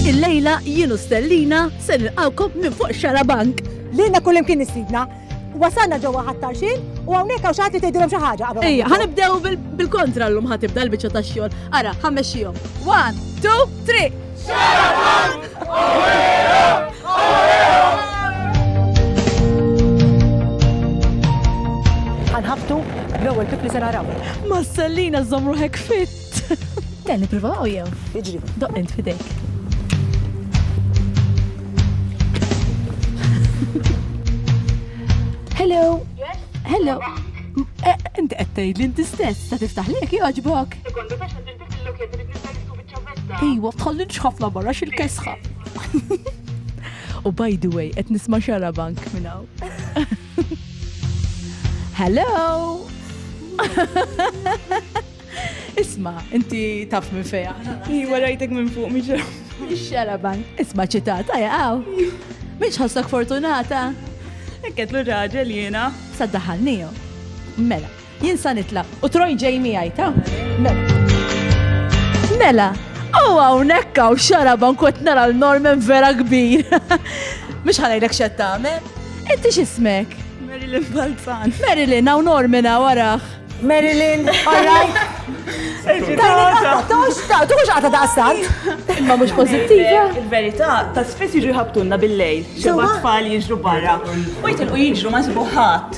Il-lejla jienu stellina se nilqawkom minn fuq xarabank. Lilna kullim kien istidna. Wasalna ġewwa ħattarxin u hawnhekk hawn xagħti tgħidilhom xi ħaġa qabel. Ejja, ħanibdew bil-kontra llum ħatibda l-biċċa tax-xogħol. Ara, ħammexxihom. One, two, three. Xarabank! Għanħaftu, l-ewwel tifli se naraw. Ma sellina żomm ruħek fit. Dan nippruvaw jew? Iġri. Doq int fidejk. Hello. Yes. Hello. Eh, inti qed tgħidli inti stess ta' tiftaħ lek jogħġbok. Iwa, tħallinx ħafna barra xil-kesħa. U by the way, qed nisma' xara bank minn hawn. Hello! Isma, inti taf minn feja. Iwa rajtek minn fuq, miġra. Xara bank. Isma ċitat, għaja għaw. Miġ ħassak fortunata. Ekket l-raġel jena. Saddaħal niju. Mela. Jien sa nitlaq u Troy ġej miegħi, ta? Mela, hawn hawnhekk hawn xaraba nkont nara l-Norman vera kbir. Mhux ħanajlek x'qed tagħmel. Inti x'ismek? Marilyn Balzan. Marilyn, hawn Norman hawn waraħ. Marilyn, all right. Tuħu xaqta ta' stant. Ma mux pozittiva. Il-verita, ta' spess jiġu jħabtunna bil-lejl. Xeba tfal jiġru barra. U jitilqu jiġru ma' sibuħat.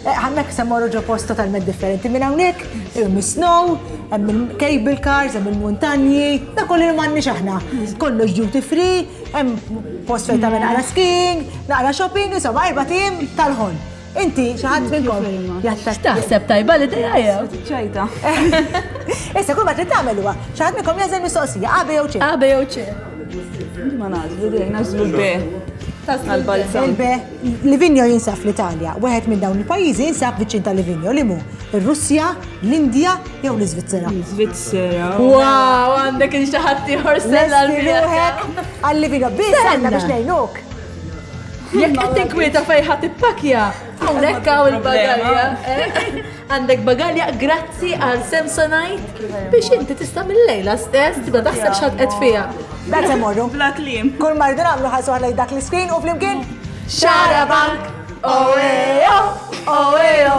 Hemmhekk se mmorru ġo post totalment differenti minn hawnhekk, hemm is-snow, hemm il-cable cars, hemm il-muntanji, dak kollu li m'għandniex aħna. Kollox duty free, hemm post fejn tagħmel naqra skiing, naqra shopping, insomma erba' tim tal-ħolm. Inti xi ħadd minnkom jattakk. Taħseb tajba li dejja jew? Ċajta. Issa kull ma trid tagħmel huwa, xi ħadd minnkom jażel mistoqsija, A, B jew C. A, B jew C. Ma nażlu dejjem nażlu B. Tażlu l-balzan. Il-B. Livigno jinsab fl-Italja. Wieħed minn dawn il-pajjiżi jinsab viċin ta' Livigno li mu ir-Russja, l-Indja jew l-Iżvizzera. L-Iżvizzera. Wow, għandek il xaħat ieħor sella l-ruħek. Għal Livigno biss għandna biex ngħinuk. Jekk qed tinkwieta fejn ħadd ippakja, hawnhekk hawn il-bagalja. Għandek bagalja grazzi għal Samsonite biex inti tista' mill-lejla stess tibda taħseb x'għad qed fiha. Dak se morru. Bla kliem. Kull mardu nagħmlu ħasu ħlej dak l-iskrin u flimkien. Xara bank! Oeo! Oeo!